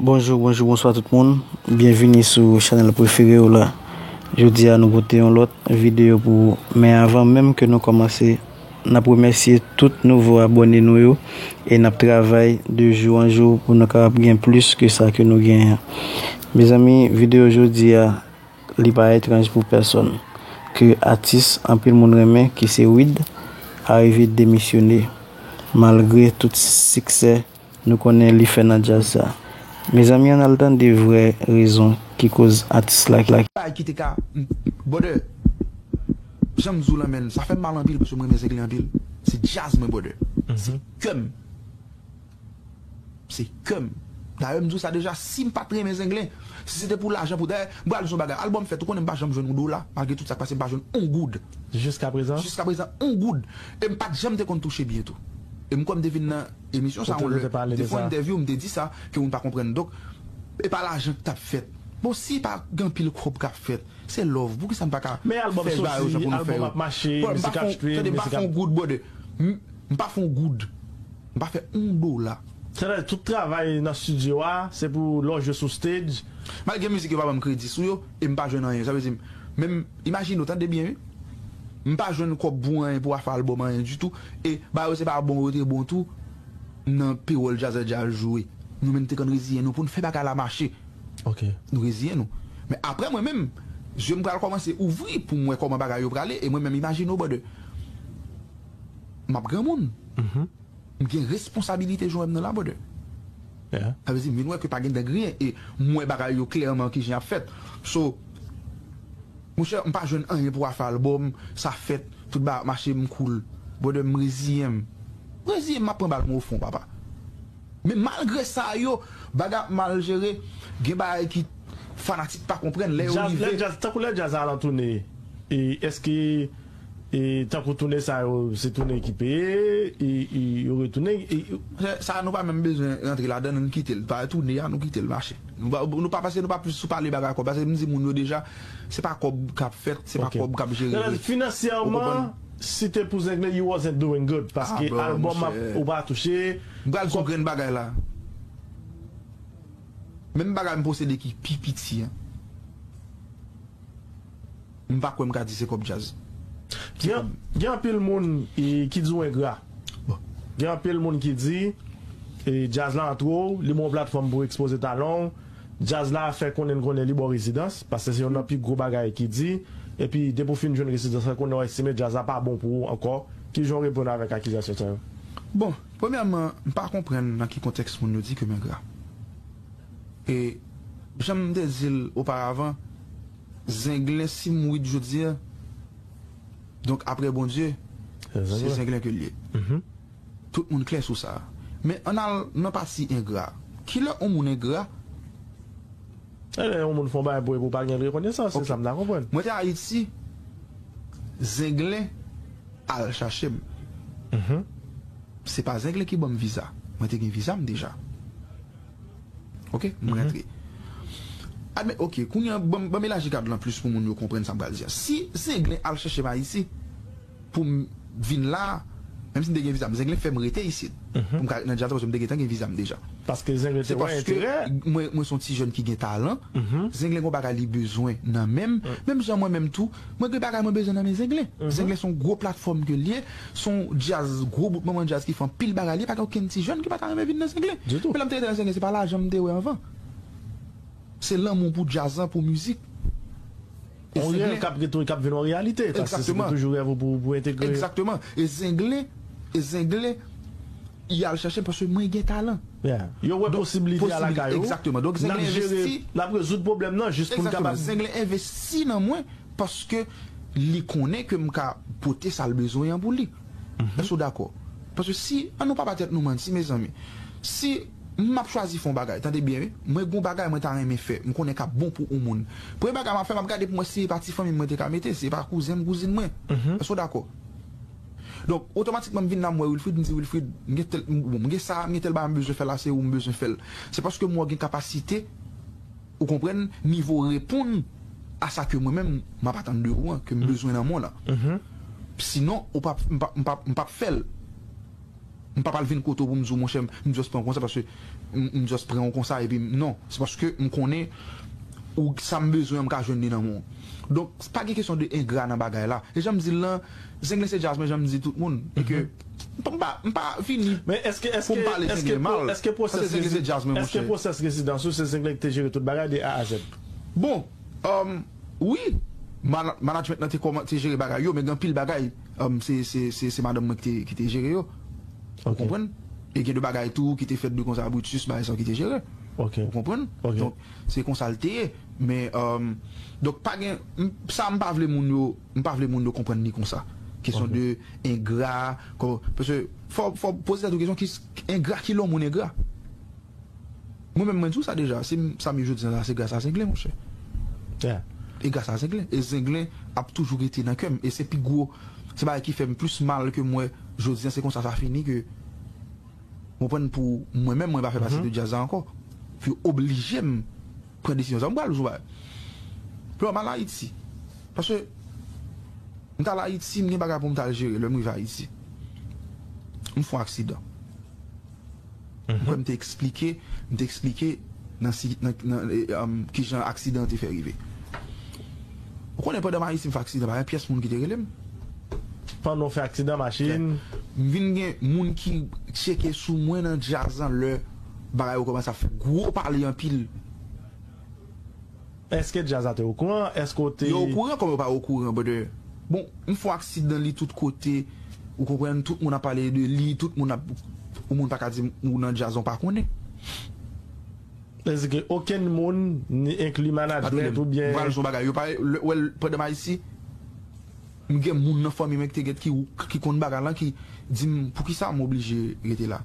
Bonjou bonjou bonswa tout moun byenvini sou chanèl prefere ou la jodi a nou pote yon lòt videyo pou ou men avan menm ke nou kòmanse n ap remèsye tout nouvo abòne nou yo e n ap travay de jou an jou pou nou kapab gen plis ke sa ke nou genyen mezanmi videyo jodi a Li pa etranj pou pèsonn ke atis anpil moun renmen ki se Wid arive demisyone malgre tout siksè nou konnen li fè nan djaz sa. Mezanmi ann al tande vrè rezon ki koz atis la kite. Bay kite ka brother janm di w lan men sa fèm mal anpil paske m renmen zenglen anpil se djaz mwen brother se kèm. Se kèm. Dayè m di w sa deja, si m pa t renmen Zenglen, si se te pou lajan pou dayè, m pral di w yon bagay, albòm fèt ou konnen m pa janm jwenn yon dola, malgre tout sa k pase m pa jwenn yon goud. Jiska prezan? Jiska prezan yon goud. E m pa t janm te konn touche byen tou. E m kwè m te vin nan emisyon sa yon lè, m te fè yon entèvyou, m te di sa, ke moun pa konprann. Donk, e pa lajan k t ap fèt. Bon, si pa gen anpil kòb k ap fèt, se love, poukisa n pa ka fè bagay yo jan pou nou fè yo? Brother, m pa fè yon, tande, m pa fè yon goud, brother. M pa fè yon goud. M pa fè on dola. Sètadi tout travay nan studio a se pou lè w jwe sou stage. Mal gen mizik yo pa banm kredi sou yo e m pa jwenn anyen sa vle di menm imajine w tande byen wi m pa jwenn kòb pou anyen pou afe album anyen ditou e ba yo se pa bon yo te bon tou nan pewòl djazè djaz jwe nou menm te konn reziyen nou pou n fè bagay la mache nou reziyen nou men aprè mwen menm zye m pral kòmanse ouvri pou m wè kòman bagay yo prale e mwen menm imajine w brother. M ap granmoun. M gen responsabilite jwenn nan la brother. Sa vle di m vin wè ke pa gen dan griyen e m wè bagay yo klèman kijan y ap fèt. So, monchè m pa jwenn anyen pou afè al bo m, sa fèt, tout bagay ap mache m cool. Brother m reziyen m. M reziyen m m ap pran bal mwen o fon papa. Men malgre sa yo, bagay ap mal jere, gen bagay ki fanatik pa konprann lè yo rive. Tankou lè djaz a alantoune, eske. E tankou toune sa yo se toune ki peye e yo retoune e. Sa a nou pa menm bezwen rantre ladan l nou kite l pa toune a nou kite l mache. Nou pa paske nou pa plis sou pale bagay kòb paske m di moun yo deja se pa kòb k ap fèt se pa kòb k ap jere vre. Finansyèman si te pou Zenglen you wasn't doing good paske albòm ap ou pa touche. M pral di w grenn bagay la a. Menm bagay m posede ki pi piti an. M pa kwè m ka di se kòb djaz. Se kòb. Gen anpil moun ki di w engra. Gen anpil moun ki di djaz la antre w, li ban w platfòm pou w ekspoze talan w. Djaz la fè konnen n konnen li ba w rezidans, paske se youn nan pi gwo bagay ki di. Epi depi w fin jwenn rezidans la, konnen w estime djaz la pa bon pou ou ankò. Ki jan w reponn avèk akizasyon sa yo? Bon, premyèman, m pa konprann nan ki kontèks moun yo di ke m engra. E jan m te di l oparavan. Zenglen sim wid jodia donk aprè Bondye se zenglen kel ye tout moun klè sou sa men ann al nan pati engra kilè on moun engra Lè on moun fon bagay pou epi ou pa gen rekonesans se sa m ta konprann. Mwen te ayiti zenglen al chache m se pa zenglen ki banm viza mwen te gen viza m deja. Ok, m rantre. Admèt, ok, kounye an, ban m elaji kad lan plis pou moun yo konprann sa m pral di a. Si Zenglen al chèche m Ayiti pou m vin la a, menm si m te gen viza m, Zenglen fè m rete isit pou m ka ret nan djaz la paske m te gentan gen viza m deja. Paske Zenglen te wè enterè? Se paske mwen se yon ti jèn ki gen talan, Zenglen gen yon bagay li bezwen nan men m, menm jan mwen menm tou, mwen gen bagay mwen bezwen nan men Zenglen. Zenglen se yon gwo platfòm ke l ye, Son jazz gwo bout manman jazz ki fè anpil bagay liye pa gen okenn ti jèn ki pa ta renmen vin nan zenglen Ditou. men lèm te rete nan zenglen se pa lajan m te wè anvan se lanmou pou jazz lan pou mizik e On rèv zenglen kap retoun kap vin on reyalite paske se te Exactement. toujou rèv ou pou pou entegre Exactement e zenglen e zenglen y al chache m paske mwen gen talan Yeah yo wè donk posibilite a lakay posibilite ou exactement donk nap zenglen jere envesti nap rezoud pwoblèm nan jis pou n Exactement kapab zenglen envesti nan mwen. Paske li konnen ke m ka pote sa l bezwen an pou li. Èske w dakò? Paske si, an nou pa ba tèt nou manti mezanmi, si m ap chwazi fè yon bagay, tande byen wi, mwen gen yon bagay mwen ta renmen fè, m konnen k ap bon pou yon moun, premye bagay m ap fè, m ap gade pou m wè si e pa ti fanmi m mwen te ka mete, si e pa kouzen m, kouzin mwen. Èske w dakò? Donk, otomatikman m vin la m wè Wilfrid, m di Wilfrid, m gen tèl, bon, m gen sa a, m gen tèl bagay m bezwen fè la, se ou m bezwen fè l. Se paske m wè w gen kapasite. Ou konprann nivo reponn a sa ke mwen menm m ap atann de ou an, ke m bezwen nan men w lan. Sinon, ou pa, m pa, m pa, m pap fè l. M pap al vin kote w pou m di w monchè m just pran w konsa paske m just pran w konsa epi m, non. Se paske m konnen ou, sa m bezwen an m ka jwenn li nan men w. Donk, pa gen kesyon de engra nan bagay la. E jan m di l lan, Zenglen se djaz mwen jan m di tout moun e ke. M pa vini pou m pale Zenglen mal, paske Zenglen se djaz mwen monchè. Eske pwosès rezidans ou se Zenglen ki te jere tout bagay de A a Z? Bon, wi, manadjment lan te jere bagay yo, men gen anpil bagay se madanm mwen ki te jere yo, ou konprann? E gen de bagay tou ki te fèt de konsa Brutus bagay sa yo ki te jere, ou konprann? Donk, se konsa l te ye. Men, donk, pa gen, sa m pa vle moun yo. M pa vle moun yo konprann li konsa. Kesyon de engra, kòman, paske fò w, fò w poze tèt ou kesyon ki, engra ki lè yon moun engra? Mwen menm mwen di w sa deja, si m sa m ye jodi an la se gras a Zenglen monchè. E gras a Zenglen. E Zenglen ap toujou rete nan kè m. E se pi gwo, se bagay ki fè m plis mal ke m wè jodi an se konsa sa fini ke, ou konprann, pou mwen menm mwen pa fè pati de djaz la ankò. Pou yo oblije m. pran desizyon sa. M pral jwe Pè m al Ayiti. Paske m t al Ayiti, m gen bagay pou m t al jere lè m rive Ayiti. M fon aksidan. M kwè m te eksplike m te eksplike nan si nan nan ki jan aksidan an te fè rive. Ou konnen pandan m Ayiti m fè aksidan pa gen pyès moun ki te rele m. Pandan w fè aksidan machin. M vin gen moun ki tcheke sou mwen nan djaz lan lè. Bagay yo komanse ap fè gwo pale anpil. Eske djaz la te okouran? Eske w te. Yo okouran kòm yo pa okouran brother. Bon m fon aksidan li tout kote ou konprann tout moun ap pale de li tout moun ap yon moun paka di m ou nan djaz an w pa konnen. Sa vle di ke okenn moun ni enkli management oubyen. M pral di w yon bagay yo pa wè l pandan m Ayiti. M gen moun nan fanmi mwen ki te get ki ki konn bagay lan ki di m poukisa m oblije rete la.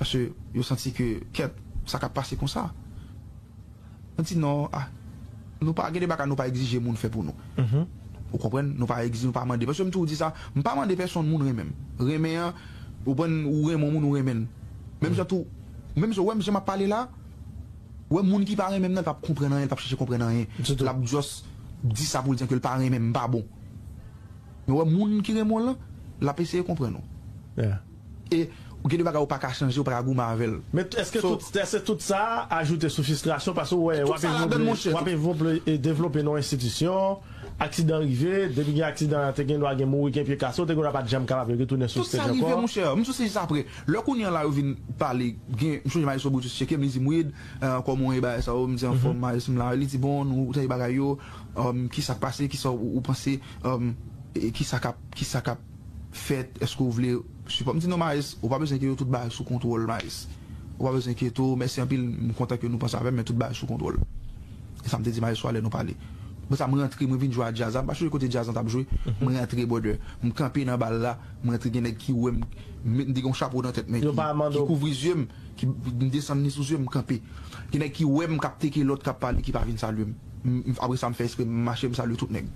Paske yo santi ke kèt sa kap pase konsa. Mwen di non a nou pa gen de bagay nou pa egzije moun fè pou nou. Ou konprann nou pa egzije nou pa mande paske m toujou di sa m pa mande pèsonn moun renmen m. Renmen an ou konprann ou renmen yon moun ou renmen l menm jan tou menm jan ou wè m jan map pale la. Ou wè moun ki pa renmenm nan pap konprann anyen li pap chèche konprann anyen Ditou. Lap just di sa poul di an kel pa renmenm m pa bon Men ou wè moun ki renmen w lan lap eseye konprann ou Yeah. E ou gen de bagay ou paka chanje ou paka goumen avèl Men èske So. tout èske tout sa ajoute sou fistrasyon paske ou wè Tout wap sa evni ladann vle monchè wap tout. evni vle devlope nan yon enstitisyon aksidan rive depi gen aksidan te gendwa gen mouri gen pye kase ou te gendwa pat janm kapab retounen sou Tout stage sa rive ankò. monchè m sou stage sa aprè. Lè kounye an la yo vin pale gen m sonje Maestro Brutus tcheke m li di m Wid kòman w ye bagay sa yo m di anfòm Maes m la li di bon nou tande bagay yo kisa k pase kisa ou panse kisa kap kisa kap fèt èske w vle sipò m di non Maes ou pa bezwen enkyete w tout bagay sou kontwòl Maes ou pa bezwen enkyete w mèsi anpil m kontan ke nou panse avè m men tout bagay sou kontwòl e sa m te di Maestro a lè nou pale apre sa m rantre mwen vin jwe a djaz la m pa sonje kote djaz lan t ap jwe m rantre brother m kanpe nan bal la. M rantre gen nèg ki wè m, m te gen yon chapo nan tèt men ki kouvri zye m, m desann li sou zye m, m kanpe. Gen nèg ki wè m k ap teke lòt k ap pale ki pa vin salye m. Apre sa m fè espre m mache m salye tout nèg.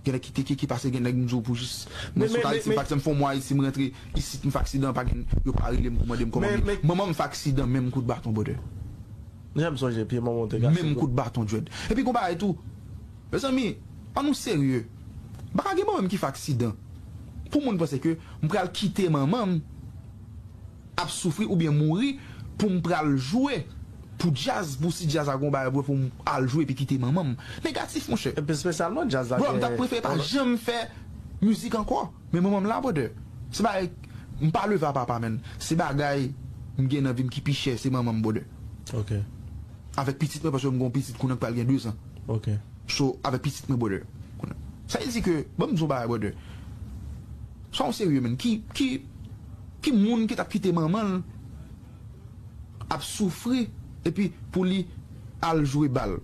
Gen nèg ki teke ki pase gen nèg m di w pou jis mwen sot Ayiti pa ekzanp m fè yon mwa Ayiti m rantre isit m fè aksidan pa gen yo pa rele m pou mande m kòman m ye. Manman m fè aksidan menm kout baton brother. Menm kout baton Djed. Epi gen yon bagay tou. Mezanmi an nou serye pa ka gen manman m ki fè aksidan pou moun panse ke m pral kite manman m ap soufri oubyen mouri pou m pral jwe pou djaz pou si djaz a gon bagay pou m al jwe epi kite manman m negatif monchè. Epi espesyalman djaz la gen yon Bro m ta prefere pa janm fè mizik ankò men manman m la brother se bagay m pa leve a papa men se bagay m gen nan vi m ki pi chè se manman m brother avèk pitit mwen paske m gon pitit kounye an k pral gen 2 zan. ok. So avè pitit mwen brother kounye sa il di ke banm di yon bagay brother sa ou serye menn ki ki ki moun ki tap kite manmanl ap soufri epi pou li al jwe bal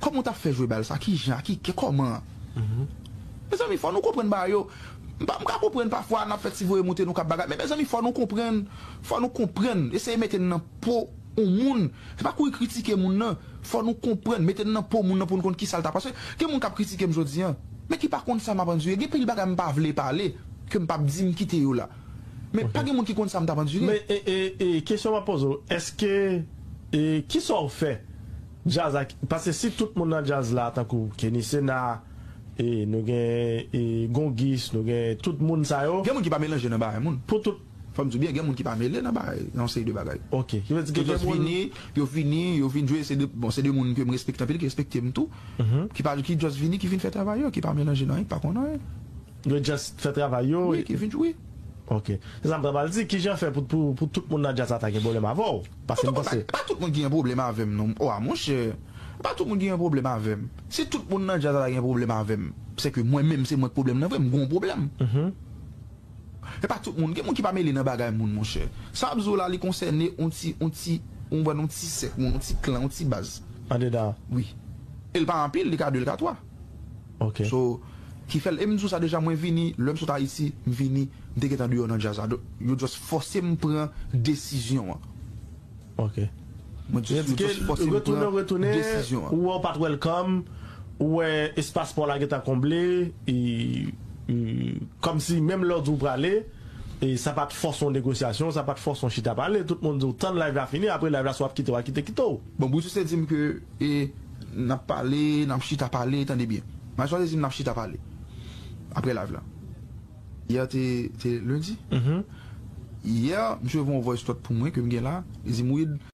kòman ou tap fè jwe bal sa kijan a ki kè kòman mezanmi fò nou konprann bagay yo m pa m ka konprann pafwa nap fè ti voye moute nou kap bagay men mezanmi fò nou konprann fò nou konprann eseye mete n nan. Po on moun, se pa kouri kritike moun nan, fò nou konprann, mete n nan po moun nan pou n konn kisa l ta, paske gen moun k ap kritike m jodi an, men ki pa konn sa m ap andire, gen pil bagay m pa vle pale, ke m p ap di m kite yo la, men pa gen moun ki konn sa m t ap andire. Men kesyon m ap poze w, èske, kisa w fè djaz ak, paske si tout moun nan djaz la tankou Kenny Sena, nou gen Gongis, nou gen tout moun sa yo. Gen moun ki pa melanje nan bagay moun. Fòm di w byen gen moun ki pa mele nan bagay nan yon seri de bagay. Ok. Ki vle di ke gen moun. Ki just vini, yo vini, yo vin jwe se 2, bon se 2 moun ke m respekte anpil, ki respekte m tou. Ki pa, ki just vini, ki vin fè travay yo, ki pa melanje nan anyen, ki pa konn anyen. Yo just fè travay yo. Wi, ki vin jwe. Ok. Se sa m ta pral di, kijan fè pou, pou, pou tout moun nan djaz la ta gen pwoblèm avè w? Paske m panse. Pa tout moun ki gen pwoblèm avè m non. Wa monchè, pa tout moun ki gen pwoblèm avè m. Si tout moun nan djaz la ta gen pwoblèm avè m, sèke mwen menm se mwen k pwoblèm nan vre, m gon pwoblèm. Epa tout moun, gen moun ki pa mele nan bagay moun monchè. Sa wap di w la li konsène on ti on ti ou konprann on ti sèk moun, on ti klan, on ti baz. Andedan an? Wi. E l pa anpil, li ka 2, li ka 3. Ok. So, ki fè l, e m di w sa deja mwen vini, lè m sot Ayiti, m vini, m te gentan deyò nan djaz la. Yo just fòse m pran desizyon an. Ok. Mwen jis di ke fòs m pran desizyon an. Ou wè ou pat welcome, ou wè espas pa w la gentan konble, kòmsi menm lè w di w prale, sa pat fòs yon negosyasyon, sa pat fòs yon chita pale, tout moun di w tann live la fini, apre live la si w ap kite w a kite, kite w. Bon Brutus te di m ke n ap pale, n ap chita pale, tande byen, Maestro te di m n ap chita pale, apre live la. Hier te te lundi? Hier misye voye yon voice note pou mwen ke m gen la, li di m Wid.